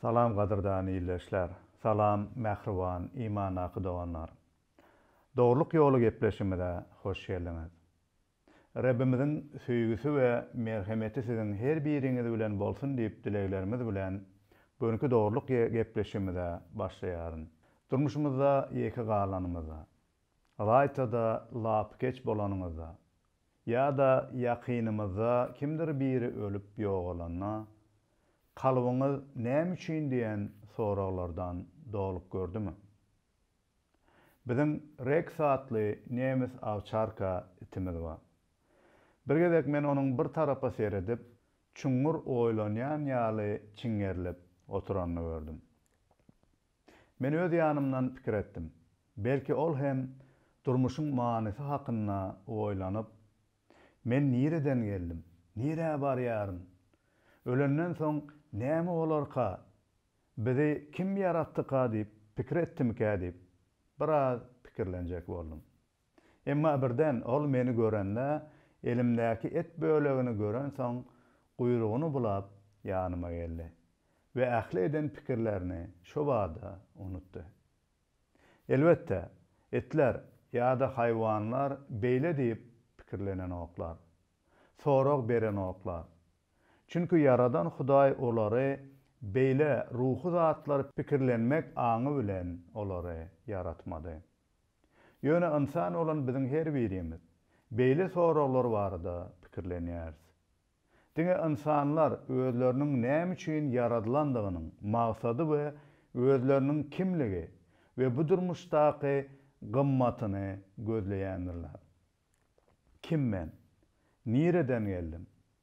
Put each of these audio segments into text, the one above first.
Salam gadyrdan ildeşler. Salam mähriban imandaky doganlar. Dogrulyk ýoly gepleşigimize hoş geldiňiz. Rebbimiziň söýgüsi we merhemeti siziň her biriňiz bilen bolsun diýip dileglerimiz bilen gönki dogrulyk gepleşigimize başlaýaryn. Durmuşymyzda ýeke galanymyzda, raýta-da lapykeç bolanyňyzda, Ýa-da ýakynymyzda kimdir biri ölüp ýogalanda, kalbyňyz näme üçin diýen soraglardan dolup gördümi? Biziň Reks atly nemes awçarka itimiz bar. Bir gezek men onuň bir tarapa seredip, çuňňur oýlanýan ýaly çiňerilip oturanyny gördüm. Men öz ýanymdan pikir etdim. Belki ol hem durmuşyň manysy hakynda oýlanyp, Men nireden geldim? Nirä barýaryn? Ölenden soň näme bolarka? Bizi kim ýaratdyka diýip pikir etdimikä diýip, biraz pikirlenjek boldum. Emma birden ol meni görende, elimdäki et bölegini görensoň, guýrugyny bulap, ýanyma geldi we ähli eden pikirlerini şo bada unutdy. Elbetde, itler ýa-da haýwanlar beýle diýip pikirlenenoklar, sorag berenoklar. Çünki Ýaradan Hudaý olary beýle ruhy zatlar pikirlenmek aňy bilen olary ýaratmady. Ýöne ynsan bolan biziň her birimiz beýle soraglar barada pikirlenýäris. Diňe ynsanlar özleriniň näme üçin ýaradylandygynyň maksady we özleriniň kimligi we bu durmuşdaky gymmatyny gözleýändirler. Kim men? Nireden geldim?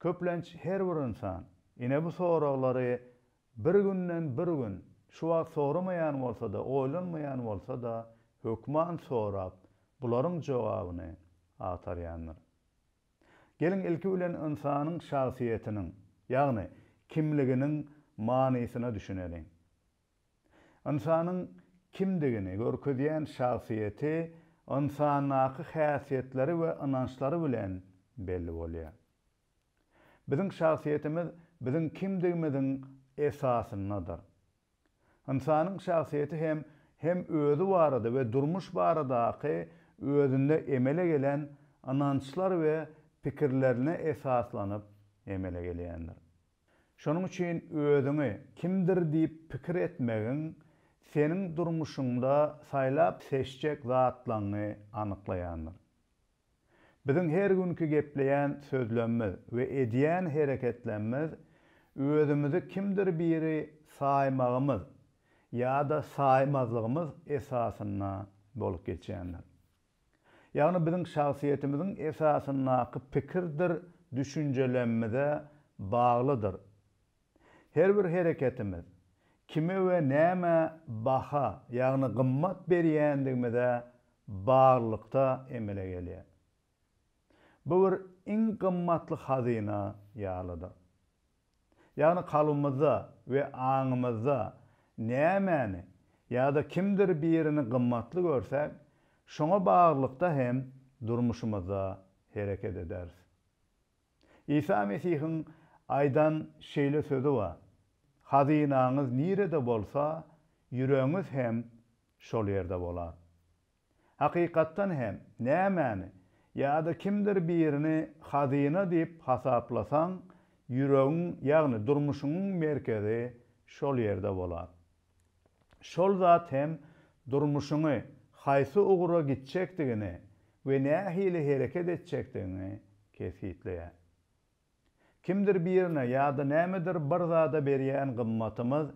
Köplenç her bir ynsan, ine bu soraglary bir günden bir gün, şu wagt soramaýan bolsa-da, oýlanmaýan bolsa-da, hökman sorap, bularyň jogabyny agtarýandyr. Geliň ilki bilen ynsanyň şahsyýetiniň, ýagny kimliginiň manysyna düşüneliň. Ynsanyň kimdigini görkezýän şahsyýeti ynsandaky häsiýetleri we ynançlary bilen belli bolýar. Biziň şahsyýetimiz biziň kimdigimiziň esasyndadyr. Ynsanyň şahsyýeti hem hem özi barada we durmuş baradaky özünde emele gelen ynançlar we pikirlerine esaslanyp emele gelýändir. Şonuň üçin özüňi kimdir diýip pikir etmegiň seniň durmuşyňda saýlap-seçjek zatlaňňy anyklaýandyr. Biziň her günki gepleýän sözlemmiz we edýän hereketlemmz özümizi kimdir biri saýmagymyz ýa-da saýmazlygymyz esasynda bolup geçýändir. ýagny biziň şahsyýetimiziň esasyndaky pikirdir düşünjelemmize baglydyr. Her bir hereketimiz, kime we nämä baha, ýagny gymmat berýändigimize baglylykda emele gelýär. Bu bir iň gymmatly hazyna ýalydyr. Ýagny kalbymyzda we aňymyzda nämäni ýa-da kimdir birini gymmatly görsäk, şoňa baglylykda hem durmuşymyzda hereket ederis. Isa Mesihiň aýdan şeýle sözi bar, Hazynaňyz nirede bolsa, ýüregiňiz hem şol ýerde bolar. Hakykatdan hem, nämäni ýa-da kimdir birini hazyna diýip hasaplasaň, ýüregiň, ýagny durmuşyňyň merkezi şol ýerde bolar. Şol zat hem durmuşyňy haýsy ugra gitjekdigini we nähili hereket etjekdigiňi kesgitleýär. Kimdir birine ýa-da nämedir bir zada berýän gymmatymyz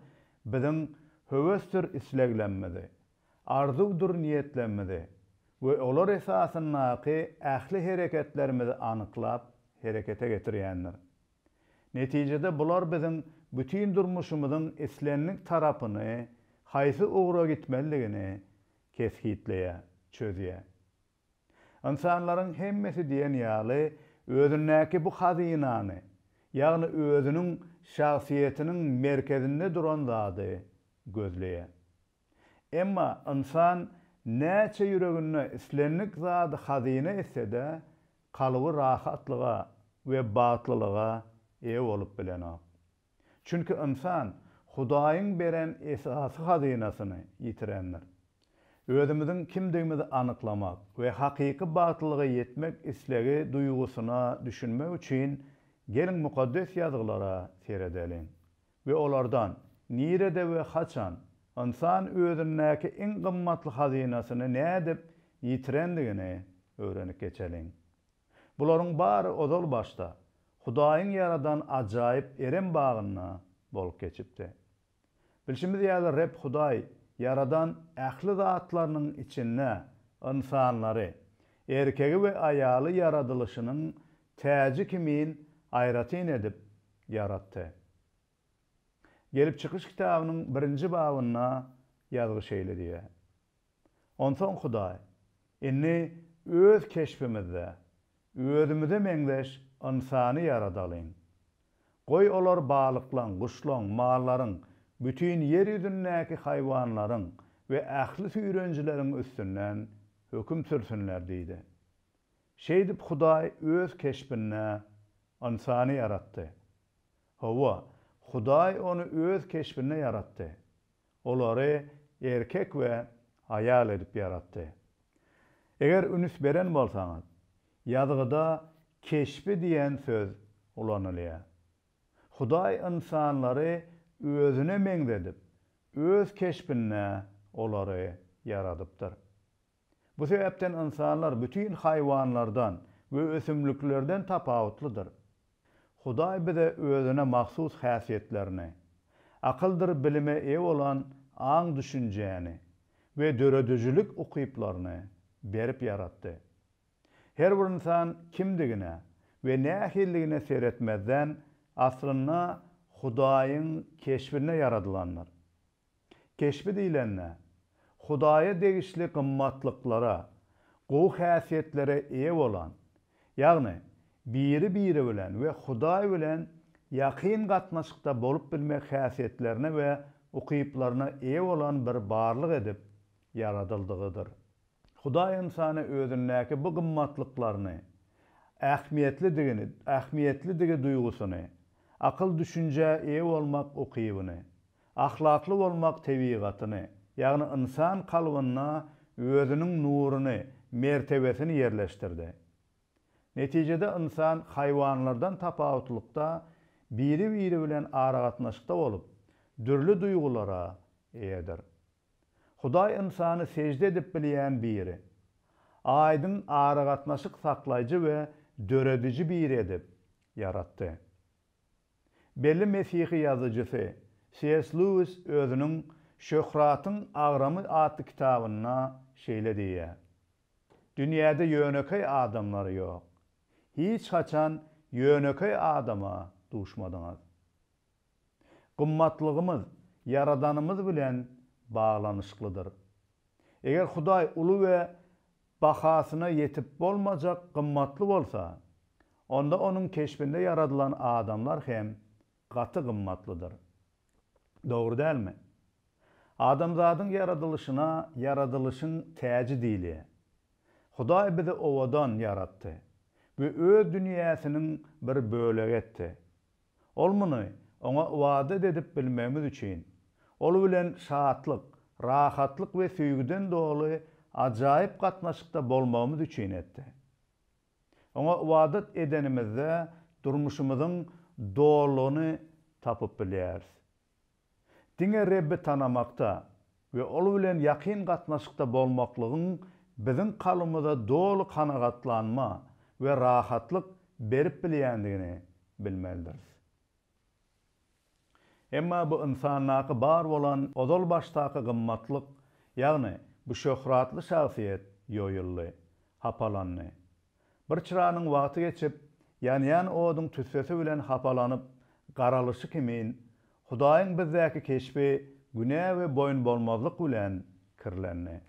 biziň höwesdir isleglemmizi, arzuwdyr niýetlemmizi we olar esasyndaky ähli hereketlerimizi anyklap, herekete getirýändir. Netijede bular biziň bütin durmuşymyzyň islendik tarapyny, haýsy ugra gitmelidigini kesgitleýär, çözýär. Ynsanlaryň hemmesi diýen ýaly özündäki bu hazynany, ýagny özüniň şahsyýetiniň merkezinde duran zady gözleýär. Emma ynsan näçe ýüreginde islendik zady hazyna etse-de, kalby rahatlyga we bagtlylyga eýe bolup bilenok. Çünki ynsan Hudaýyň beren esasy hazynasyny ýitirendir. Özümiziň kimdigimizi anyklamak we hakyky bagtlylyga ýetmek islegi duýgusyna düşünmek üçin, geliň Mukaddes Ýazgylara seredeliň we olardan, nirede we haçan ynsan özündäki iň gymmatly hazynasyny nädip ýitirendigini öwrenip geçeliň. Bularyň bary ozal başda, Hudaýyň ýaradan ajaýyp Erem bagynda bolup geçipdi. Bilşimiz ýaly, Reb Hudaý ýaradan ähli zatlarynyň içinde ynsanlary, erkegi we aýaly ýaradylyşynyň täji kimin aýratyn edip ýaratdy. Gelip çykyş kitabynyň birinji babynda ýazgy şeýle diýýär, Onsoň Hudaý, Indi öz keşbimizde, özümize meňzeş ynsany ýaradalyň. Goý, olar balyklaň, guşlaň, mallaryň, bütin ýer ýüzündäki haýwanlaryň we ähli süýrenijileriň üstünden höküm sürsünler diýdi. Şeýdip, Hudaý öz keşbinde ynsany ýaratdy. Hawa, Hudaý ony öz keşbinde ýaratdy. Olary erkek we aýal edip ýaratdy. Eger üns beren bolsaňyz, ýazgyda keşbi diýen söz ulanylýar. Hudaý ynsanlary özüne meňzedip, öz keşbinde olary ýaradypdyr. Bu sebäpden ynsanlar bütin haýwanlardan we ösümliklerden tapawutlydyr. Hudaý bize özüne mahsus häsiýetlerini, akyldyr bilime eýe bolan aň-düşünjäni we döredijilik ukyplaryny berip ýaratdy. Her bir ynsan kimdigine we nähilidigine seretmezden, aslynda Hudaýyň keşbinde ýaradylandyr. Keşbi diýlende, Hudaýa degişli gymmatlyklara, gowy häsiýetlere eýe bolan, ýagny biri-biri bilen we Hudaý bilen ýakyn gatnaşykda bolup bilmek häsiýetlerine we ukyplaryna eýe bolan bir barlyk edip ýaradyldygydyr. Hudaý ynsana özündäki bu gymmatlyklaryny, ähmiýetlidigini, ähmiýetlidigi duýgusyny, akyl-düşünjä eýe bolmak ukybyny, ahlakly bolmak tebigatyny, ýagny ynsan kalbynda Özüniň nuruny, mertebesini ýerleşdirdi. Netijede ynsan haýwanlardan tapawutlykda biri-biri bilen aragatnaşykda bolup, dürli duýgulara eýedir. Hudaý ynsany sežde edip bilýän biri, aýdyň aragatnaşyk saklaýjy we dörediji biri edip ýaratdy. Belli mesihi ýazyjysy CS. Lewis özüniň Şöhratyň agramy atly kitabynda şeýle diýýär, Dünýäde ýönekeý adamlar ýok. Hiç haçan ýönekeý adama duşmadyňyz. Gymmatlygymyz Ýaradanymyz bilen baglanyşyklydyr. Eger Hudaý uly we bahasyna ýetip bolmajak gymmatly bolsa, onda Onuň keşbinde ýaradylan adamlar hem gaty gymmatlydyr. Dogry dälmi? Adamzadyň ýaradylyşyna ýaradylyşyň täji diýilýär. Hudaý bizi owadan ýaratdy we Öz dünýäsiniň bir bölegi etdi. Ol muny Oňa ybadat edip bilmegimiz üçin, Ol bilen şatlyk, rahatlyk we söýgüden doly ajaýyp gatnaşykda bolmagymyz üçin etdi. Oňa ybadat edenimizde durmuşymyzyň dolulygyny tapyp bilýäris. Diňe Rebbi tanamakda we Ol bilen ýakyn gatnaşykda bolmaklygyň biziň kalbymyza doly kanagatlanma we rahatlyk berip bilýändigini bilmelidiris. Emma bu ynsandaky bar bolan ozal başdaky gymmatlyk, ýagny bu şöhratly şahsyýet ýoýuldy, hapalandy. Bir çyranyň wagty geçip, ýanýan oduň tüssesi bilen hapalanyp garalyşy kimin, Hudaýyň bizdäki keşbi günä we boýunbolmazlyk bilen kirlendi.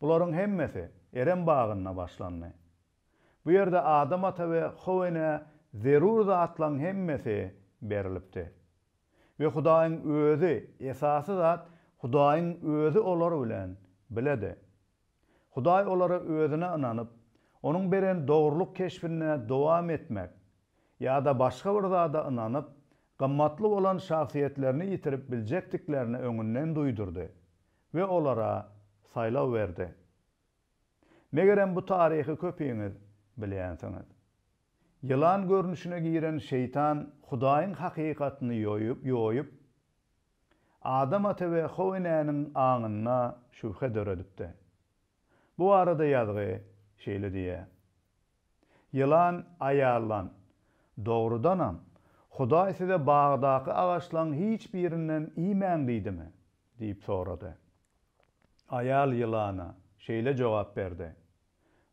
Bularyň hemmesi Erem bagynda başlandy. Bu ýerde Adam ata we How enä zerur zatlaryň hemmesi berilipdi. We Hudaýyň Özi, esasy zat, Hudaýyň Özi olar bilen biledi. Hudaý olara Özüne ynanyp, Onuň beren dogrulyk keşbinde dowam etmek ýa-da başga bir zada ynanyp, gymmatly bolan şahsyýetlerini ýitirip biljekdiklerini öňünden duýdurdy we olara saýlaw berdi. Megerem bu taryhy köpiňiz bilýänsiňiz. Ýylan görnüşine giren Şeýtan Hudaýyň hakykatyny ýoýup, Adam ata we How enäniň aňynda şübhe döredipdi. Bu barada ýazgy şeýle diýýär, Ýylan aýallan, Dogrudanam, Hudaý size bagdaky agaçlaň hiç birinden iýmäň diýdimi? diýip sorady. Aýal ýylana şeýle jogap berdi,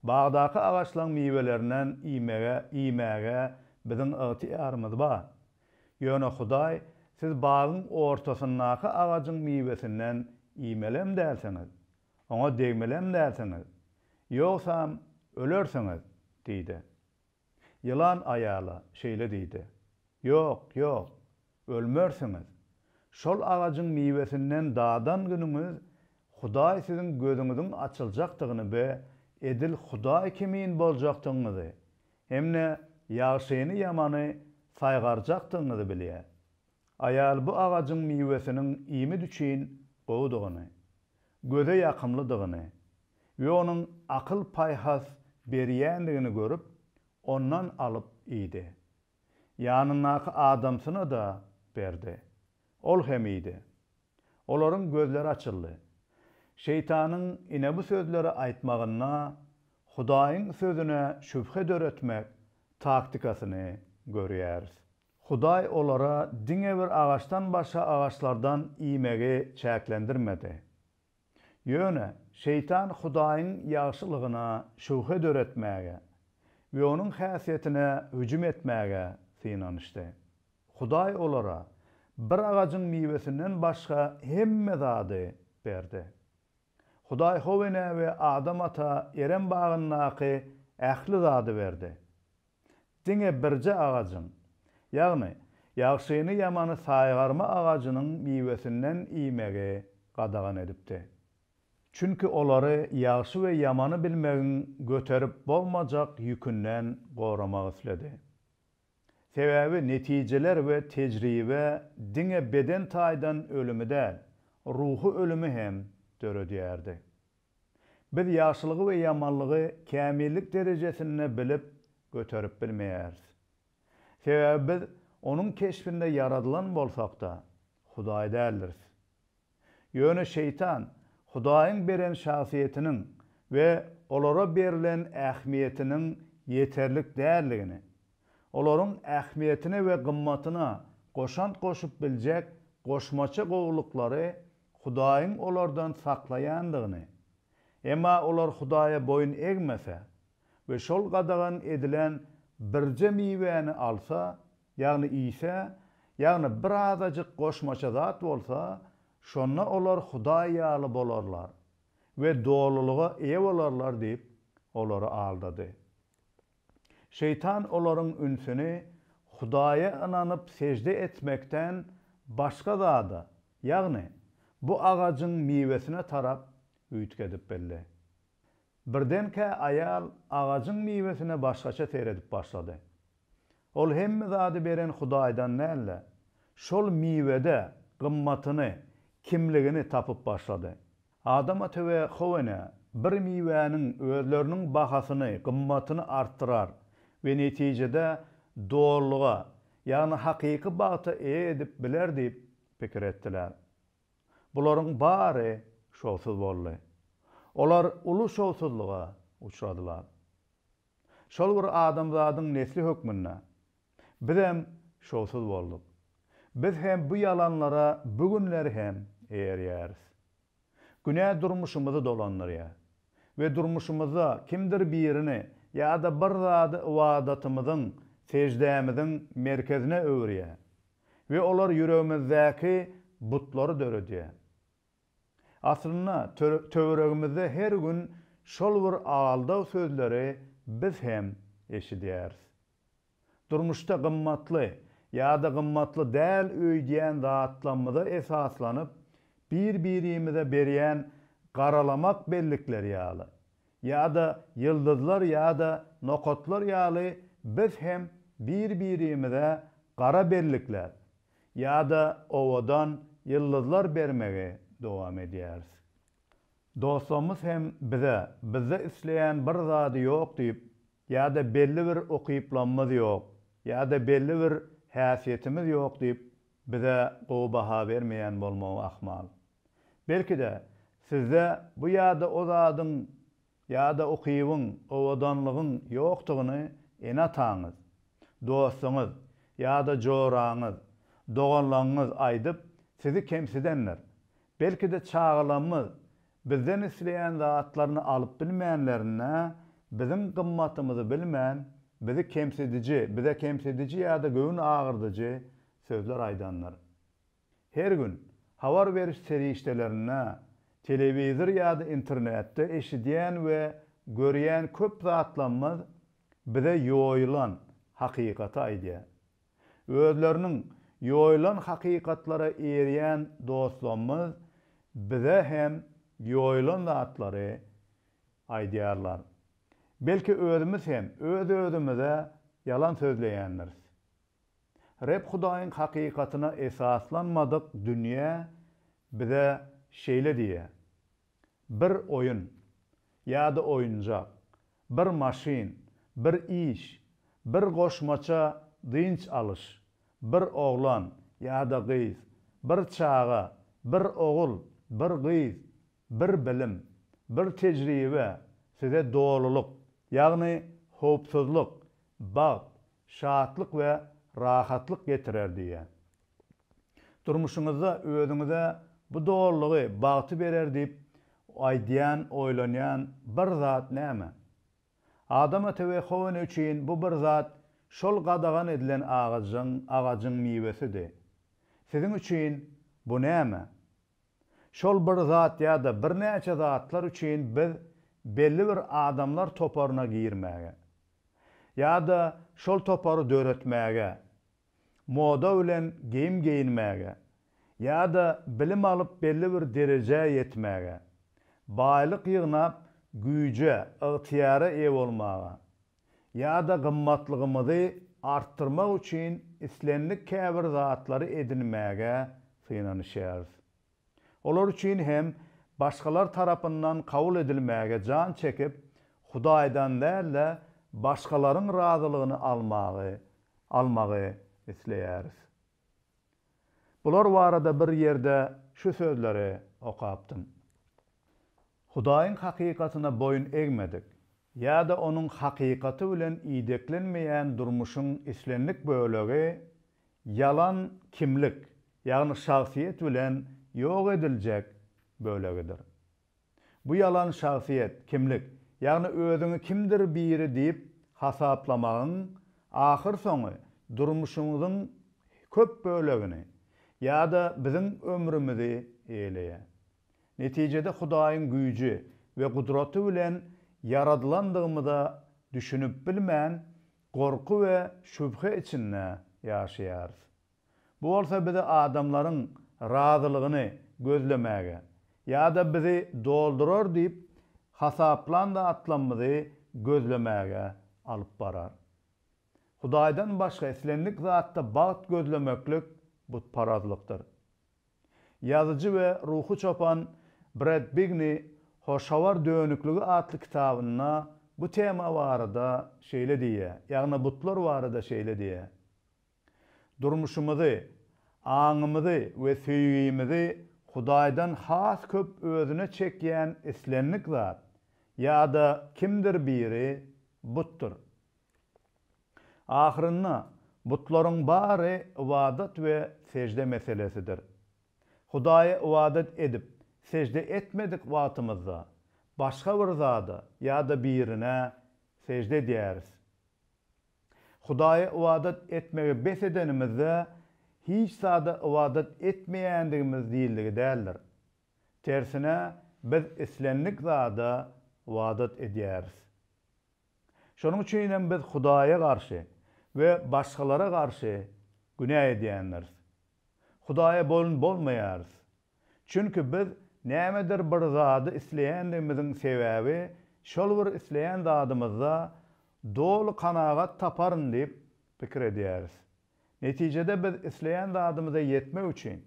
Bagdaky agaçlaň miwelerinden iýmege, iýmäge biziň ygtyýarymyz bar. Ýöne Hudaý siz bagyň ortasyndaky agajyň miwesinden iýmelem dälsiňiz, oňa degmelem dälsiňiz, ýogsam ölersiňiz diýdi. Ýylan aýala şeýle diýdi, Ýok, ýok, ölmersiňiz. Şol agajyň miwesinden dadan günüňiz Hudaý siziň gözüňiziň açyljakdygyny we edil Hudaý kimin boljakdygyňyzy hem-de ýagşyny-ýamany saýgarjakdygyňyzy bilýär. Aýal bu agajyň miwesiniň iýmit üçin gowudygyny, göze ýakymlydygyny we onuň akyl-paýhas berýändigini görüp, ondan alyp iýdi. Ýanyndaky adamsyna-da berdi. Ol hem iýdi. Olaryň gözleri açyldy. Şeýtanyň ine bu sözleri aýtmagynda Hudaýyň sözüne şübhe döretmek taktikasyny görýäris. Hudaý olara diňe bir agaçdan başga agaçlardan iýmegi çäklendirmedi. Ýöne Şeýtan Hudaýyň ýagşylygyna şübhe döretmäge we onuň häsiýetine hüjüm etmäge synanyşdy. Hudaý olara bir agajyň miwesinden başga hemme zady berdi. Hudaý How enä we Adam ata Erem bagyndaky ähli zady berdi. diňe birje agajyň, ýagny ýagşyny-ýamany saýgarma agajynyň miwesinden iýmegi gadagan edipdi. Çünki olary ýagşy we ýamany bilmegiň göterip bolmajak ýükünden goramak isledi. Sebäbi netijeler we tejribe diňe beden taýdan ölümi däl, ruhy ölümi hem döredýärdi. Biz ýagşylygy we ýamanlygy kämillik derejesinde bilip, göterip bilmeýäris. Sebäbi biz Onuň keşbinde ýaradylan bolsak-da, Hudaý däldiris. Ýöne Şeýtan Hudaýyň beren şahsyýetiniň we olara berlen ähmiýetiniň ýeterlik däldigini, olaryň ähmiýetine we gymmatyna goşant goşup biljek goşmaça gowulyklary Hudaýyň olardan saklaýandygyny, emma olar Hudaýa boýun egmese we şol gadagan edilen birje miwäni alsa, ýagny iýse, ýagny bir azajyk goşmaça zat bolsa, şonda olar Hudaý ýaly bolarlar we dolulyga eýe bolarlar diýip, olary aldady. Şeýtan olaryň ünsüni Hudaýa ynanyp sežde etmekden başga zada, ýagny bu agajyň miwesine tarap üýtgedip bildi. Birdenkä aýal agajyň miwesine başgaça seredip başlady. Ol hemme zady beren Hudaýdan däl-de, şol miwede gymmatyny, kimligini tapyp başlady. Adam ata we how ene bir miwäniň özleriniň bahasyny, gymmatyny artdyrar we netijede dolulyga, ýagny hakyky bagta eýe edip biler diýip pikir etdiler. Bularyň bary şowsuz boldy. Olar uly şowsuzlyga uçradylar. Şol bir adamzadyň nesli hökmünde Bizem şowsuz bolduk. Biz hem bu ýalanlara bu günler hem erýäris. Günä durmuşymyzy dolandyrýar we durmuşymyzda kimdir birini ýa-da bir zady ybadatymyzyň, seždämiziň merkezine öwürýär we olar ýüregimizdäki butlary döredýär. Aslynda töweregimizde her gün şol bir aldaw sözleri biz hem eşidýäris. Durmuşda gymmatly ýa-da gymmatly däl öýdýän zatlamyza esaslanyp, bir-birimize berýän garalamak bellikleri ýaly, ýa-da ýyldyzlar ýa-da nokatlar ýaly biz hem bir-birimize gara bellikler ýa-da owadan ýyldyzlar bermegi dowam edýäris. Dostlarymyz hem bize, bizde isleýän bir zady ýok diýip, ýa-da belli bir ukyplamyz ýok, ýa-da belli bir häsiýetimiz ýok diýip, bize gowy baha bermeýän bolmagy ahmal. Belki-de, sizde bu ýa-da o zadyň, ýa-da ukybyň, owadanlygyň ýokdugyny ene-ataňyz, dostuňyz, ýa-da joraňyz, doganlaňňyz aýdyp, sizi kemsidendir. Belki-de çagalamyz Bizden isleýän zatlaryny alyp bilmänlerine, biziň gymmatymyzy bilmän, bizi kemsidiji, bize kemsidiji ýa-da göwün agyrdyjy sözler aýdandyr. Her gün, habar beriş serişdelerinde, telewizor ýa-da internetde eşidýän we görýän köp zatlamyz bize ýoýulan hakykaty aýdýar. Özleriniň ýoýlan hakykatlara eýerýän dostlarymyz bize hem ýoýlan zatlary aýdýarlar. Belki özümiz hem öz-özümize ýalan sözleýändiris. Reb Hudaýyň hakykatyna esaslanmadyk dünýä bize şeýle diýýär, Bir oýun, ýa-da oýunjak, bir maşyn, bir iş, bir goşmaça dynç alyş, bir oglan ýa-da gyz, bir çaga, bir ogul, bir gyz, bir bilim, bir tejribe size dolulyk, ýagny howpsuzlyk, bagt, şatlyk we rahatlyk getirer diýýär. Durmuşyňyzda özüňize bu dolulygy, bagty berer diýip aýdýan, oýlanýan bir zat näme? Adama Tewehowene üçin bu bir zat şol gadagan edilen agajyň, agajyň miwesidi. Siziň üçin bu näme? Şol bir zat ýa-da birnäçe zatlar üçin biz belli bir adamlar toparyna girmäge, ýa-da şol topary döretmäge, moda bilen geýim geýinmäge ýa-da bilim alyp belli bir derejä ýetmäge, baýlyk ýygnap güýje, ygtyýara eýe bolmaga ýa-da gymmatlygymyzy artdyrmak üçin islendik käbir zatlary edinmäge synanyşýarys. Olar üçin hem başgalar tarapyndan kabul edilmäge jan çekip, Hudaýdan däl-de, başgalaryň razylygyny almagy almagy isleýäris. Bular barada bir ýerde şu sözleri okapdym, Hudaýyň hakykatyna boýun egmedik ýa-da onuň hakykaty bilen ideklenmeýän durmuşyň islendik bölegi ýalan kimlik, ýagny şahsyýet bilen ýok ediljek bölegidir. Bu ýalan şahsyýet, kimlik, ýagny özüňi kimdir biri diýip hasaplamagyň ahyrsoňy durmuşyňyzyň köp bölegini ýa-da biziň ömrümizi eýeleýär. Netijede Hudaýyň güýji we gudraty bilen ýaradylandygymyza düşünip bilmän, Gorky we şübhe içinde ýaşaýarys. Bu bolsa bizi adamlaryň razylygyny gözlemäge ýa-da bizi doldurar diýip hasaplan zatlarymyzy gözlemäge alyp barar. Hudaýdan başga islendik zatda bagt gözlemeklik butparazlykdyr. Ýazyjy we ruhy çopan Bred Bigni Hoş habar dönükligi atly kitabynda bu tema barada şeýle diýýär, ýagny butlar barada şeýle diýýär, Durmuşymyzy, aňymyzy we söýgimizi Hudaýdan has köp özüne çekýän islendik zat ýa-da kimdir biri butdur. Ahyrynda, butlaryň bary ybadat we sežde meselesidir. Hudaýa ybadat edip, sežde etmedik wagtymyzda, başga bir zada ýa-da birine sežde edýäris. Hudaýa ybadat etmegi bes edenimizde, hiç zada ybadat etmeýändigimiz diýildigi däldir. Tersine, biz islendik zada ybadat edýäris. Şonuň üçin hem biz Hudaýa garşy we başgalara garşy günä edýändiris. Hudaýa boýun bolmaýarys. Çünki biz nämedir bir zady isleýändigimiziň sebäbi şol bir isleýän zadymyzda doly kanagat taparyn diýip pikir edýäris. Netijede biz isleýän zadymyza ýetmek üçin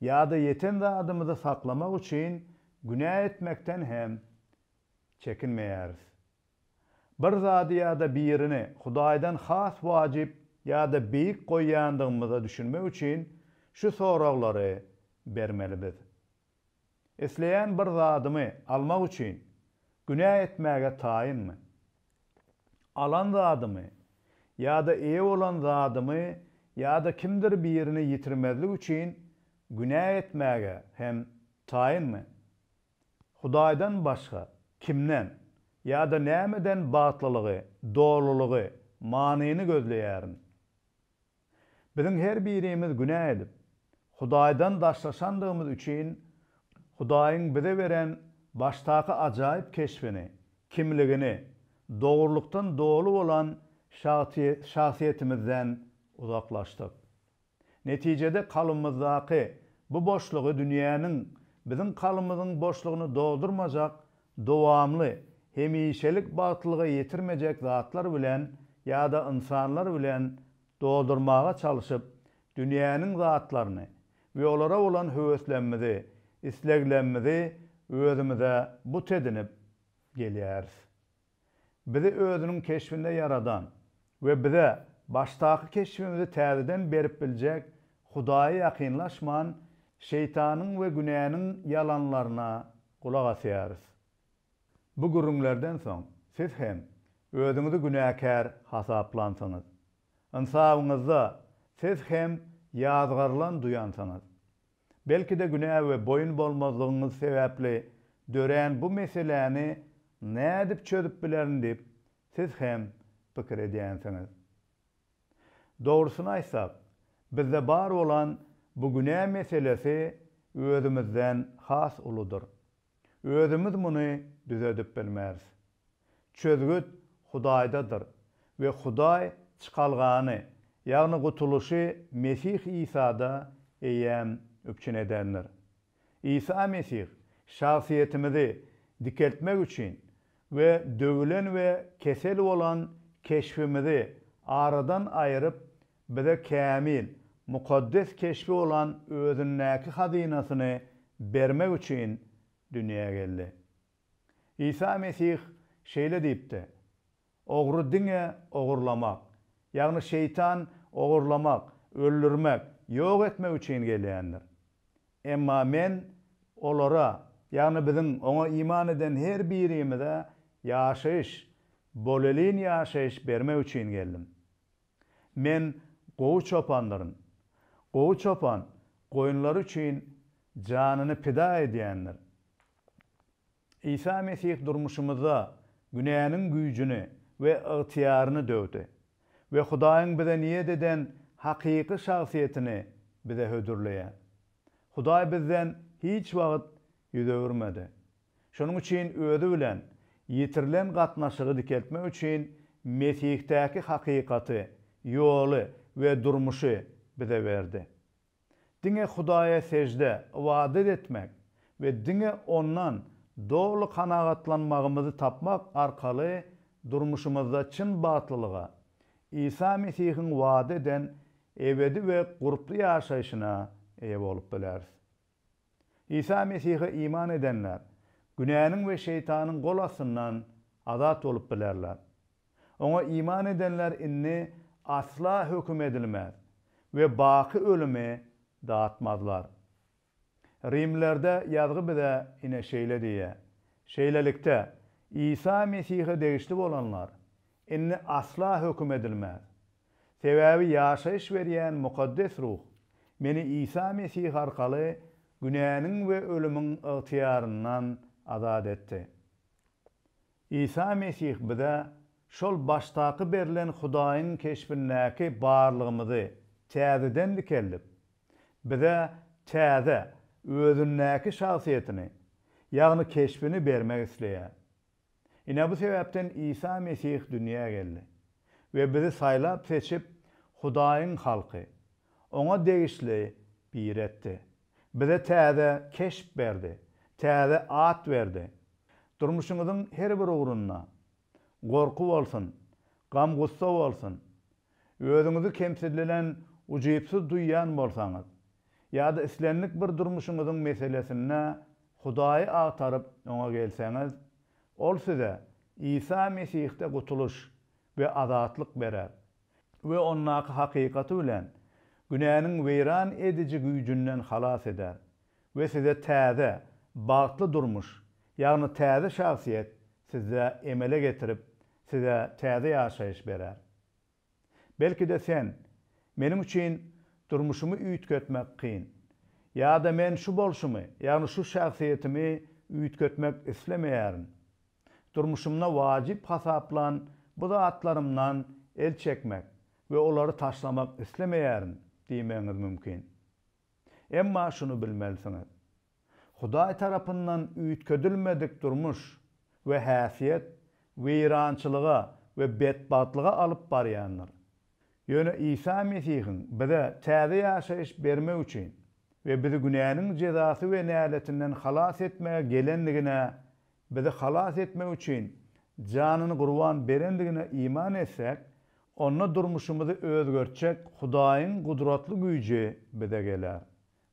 ýa-da ýeten zadymyzy saklamak üçin günä etmekden hem Çekinmeýäris. Bir zady ýa-da birini Hudaýdan has wajyp ýa-da beýik goýýandygymyza düşünmek üçin şu soraglary bermeli biz, Isleýän bir zadymy almak üçin günä etmäge taýynmy? Alan zadymy ýa-da eýe bolan zadymy ýa-da kimdir birini ýitirmezlik üçin günä etmäge hem taýynmy? Hudaýdan başga kimden ýa-da nämeden bagtlylygy, dolulygy, manyny gözleýärin? Biziň her birimiz günä edip, Hudaýdan daşlaşandygymyz üçin Hudaýyň bize beren başdaky ajaýyp keşbini, kimligini, dogrulykdan doly bolan şahsyýetimizden uzaklaşdyk. Netijede kalbymyzdaky bu boşlugy dünýäniň biziň kalbymyzyň boşlugyny doldurmajak dowamly, hemişelik bagtlylyga ýetirmejek zatlar bilen ýa-da ynsanlar bilen doldurmaga çalşyp, dünýäniň zatlaryny we olara bolan höweslemimizi, isleglemimizi özümize but edinip gelýäris. Bizi özüniň keşbinde ýaradan we bize başdaky keşbimizi täzeden berip biljek Hudaýa ýakynlaşman, Şeýtanyň we günäniň ýalanlaryna gulak asýarys. Bu gürrüňlerden soň siz hem özüňizi günäkär hasaplansyňyz. Ynsabyňyzda siz hem ýazgarylan duýansyňyz. Belki-de günä we boýun bolmazlygyňyz sebäpli dörän bu meseläni nädip çözüp bilerin diýip, siz hem pikir edýänsiňiz. Dogrusyny aýtsak, bizde bar bolan bu günä meselesi özümizden has uludyr. Özümiz muny düzedip bilmeris. Çözgüt Hudaýdadyr we Hudaý çykalgany, ýagny gutulyşy Mesih Isada eýýäm üpjün edendir. Isa Mesih şahsyýetimizi dikeltmek üçin we döwülen we kesel bolan keşbimizi aradan aýryp, bize kämil, mukaddes keşbi bolan Özündäki hazynasyny bermek üçin dünýä geldi. Isa Mesih şeýle diýipdi, Ogry diňe ogurlamak, ýagny Şeýtan ogurlamak, öldürmek, ýok etmek üçin gelýändir. Emma Men olara, ýagny biziň Oňa iman eden her birimize ýaşaýyş, bolelin ýaşaýyş bermek üçin geldim. Men gowy çopandyryn. Gowy çopan goýunlary üçin janyny pida edýändir. Isa Mesih durmuşymyzda günäniň güýjüni we ygtyýaryny döwdi we Hudaýyň bize niýet eden hakyky şahsyýetini bize hödürleýär. Hudaý bizden hiç wagt ýüz öwürmedi. Şonuň üçin Özi bilen ýitirilen gatnaşygy dikeltmek üçin Mesihdäki hakykaty, ýoly we durmuşy bize berdi. Diňe Hudaýa sežde, ybadat etmek we diňe Ondan doly kanagatlanmagymyzy tapmak arkaly durmuşymyzda çyn bagtlylyga, Isa Mesihiň wada eden ebedi we gurply ýaşaýşyna eýe bolup bileris. Isa Mesihe iman edenler günäniň we Şeýtanyň gol astyndan azat bolup bilerler. Oňa iman edenler indi asla höküm edilmez we baky ölümi datmazlar. Rimlilerde ýazgy bize ine şeýle diýýär, Şeýlelikde, Isa Mesihe degişli bolanlar indi asla höküm edilmez. Sebäbi ýaşaýyş berýän Mukaddes Ruh meni Isa Mesih arkaly günäniň we ölümiň ygtyýaryndan azat etdi. Isa Mesih bize şol başdaky berlen Hudaýyň keşbindäki barlygymyzy täzeden dikeldip, bize täze, Özündäki şahsyýetini, ýagny keşbini bermek isleýär. Ine bu sebäpden Isa Mesih dünýä geldi we bizi saýlap-seçip, Hudaýyň halky, Oňa degişli biri etdi. Bize täze keşp berdi, täze at berdi. Durmuşyňyzyň her bir ugrunda, gorky bolsun, gam-gussa bolsun, Özüňizi kemsidilenen, ujypsyz duýýan bolsaňyz, ýa-da islendik bir durmuşyňyzyň meselesinde Hudaýy agtaryp, Oňa gelseňiz, Ol size Isa Mesihde gutulyş we azatlyk berer we Ondaky hakykaty bilen günäniň weýran ediji güýjünden halas eder. We size täze, bagtly durmuş, ýagny täze şahsyýet sizde emele getirip, size täze ýaşaýyş berer. Belki-de sen, Meniň üçin durmuşymy üýtgetmek kyn. Ýa-da men şu bolşumy, ýagny şu şahsyýetimi üýtgetmek islemeýärin. Durmuşymda wajyp hasaplan bu zatlarymdan el çekmek we olary taşlamak islemeýärin diýmegiňiz mümkin. Emma şuny bilmelisiňiz, Hudaý tarapyndan üýtgedilmedik durmuş we häsiýet weýrançylyga we betbagtlyga alyp barýandyr. Ýöne Isa Mesihiň bize täze ýaşaýyş bermek üçin we bizi günäniň jezasy we näletinden halas etmäge gelendigine Bizi halas etmek üçin janyny gurban berendigine iman etsäk, onda durmuşymyzy özgertjek Hudaýyň gudratly güýji bize geler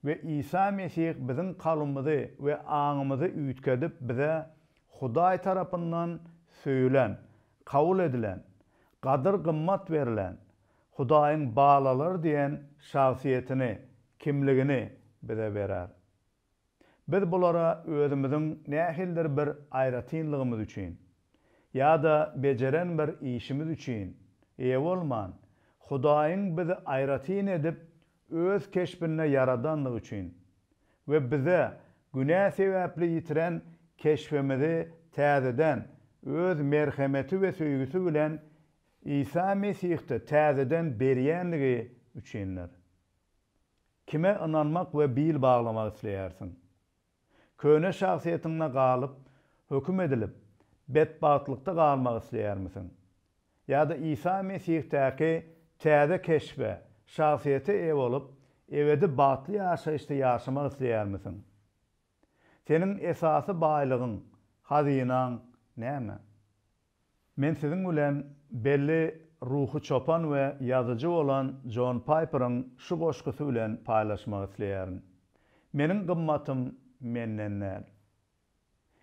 we Isa Mesih biziň kalbymyzy we aňymyzy üýtgedip bize Hudaý tarapyndan söýülen, kabul edilen, gadyr-gymmat berlen, Hudaýyň balalary diýen şahsyýetini, kimligini bize berer. Biz bulara özümiziň nähildir bir aýratynlygymyz üçin ýa-da bejeren bir işimiz üçin eýe bolman, Hudaýyň bizi aýratyn edip Öz keşbinde ýaradandygy üçin we bize günä sebäpli ýitiren keşbimizi täzeden Öz merhemeti we söýgüsi bilen Isa Mesihde täzeden berýändigi üçindir. Kime ynanmak we bil baglamak isleýärsiň? Köne şahsyýetiňde galyp, höküm edilip, betbagtlykda galmak isleýärmisiň? Ýa-da Isa Mesihdaky täze keşbe, şahsyýete eýe bolup, ebedi bagtly ýaşaýyşda ýaşamak isleýärmisiň? Seniň esasy baýlygyň, hazynaň näme? Men siziň bilen belli ruhy çopan we ýazyjy bolan Jon Paýperiň şu goşgusy bilen paýlaşmak isleýärin, Meniň gymmatym menden däl,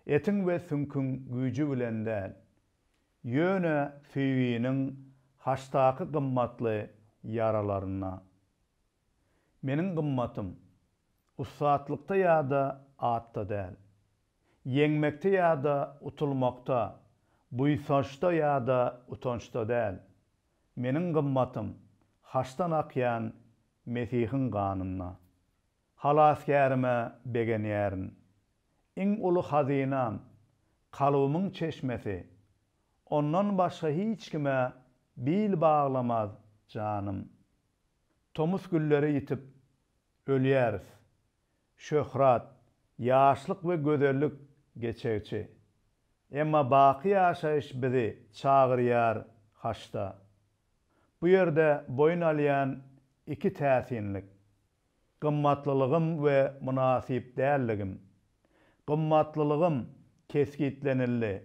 etiň we süňküň güýji bilen däl, ýöne söýginiň haşdaky gymmatly ýaralarynda. Meniň gymmatym, ussatlykda ýa-da atda däl. Ýeňmekde ýa-da utulmakda, buýsançda ýa-da utançda däl. Meniň gymmatym, haçdan akýan Mesihiň ganynda. Halasgärime begenýärin. Iň uly hazynam, kalbymyň çeşmesi. Ondan başga hiç kime bil baglamaz janym. Tomus gülleri ýitip, ölýäris. Şöhrat, ýaşlyk we gözellik geçegçi. Emma baky ýaşaýyş bizi çagyrýar haşda. Bu ýerde boýun alýan iki täsinlik, gymmatlylygym we mynasyp dälligim. Gymmatlylygym kesgitlenildi,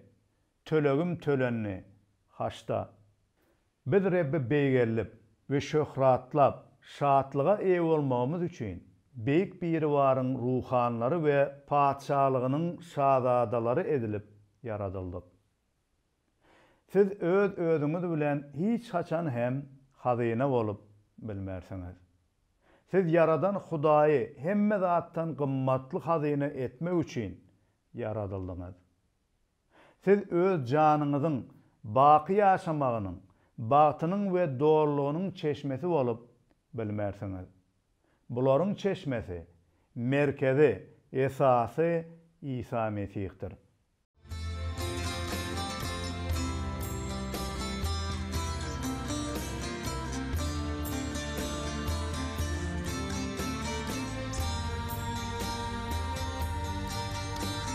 Tölegim tölendi, haçda. Biz Rebbi beýgellip we şöhratlap, şatlyga eýe bolmagymyz üçin, Beýik Biribaryň ruhanylary we Patyşalygynyň şazadalary edilip ýaradyldyk. Siz öz-özüňiz bilen hiç haçan hem hazyna bolup bilmersiňiz. Siz Ýaradan Hudaýy hemme zatdan gymmatly hazyna etmek üçin ýaradyldyňyz. Siz öz janyňyzyň baky ýaşamagynyň bagtynyň we dolulygynyň çeşmesi bolup bilmersiňiz. Bularyň çeşmesi, merkezi, esasy Isa Mesihdir.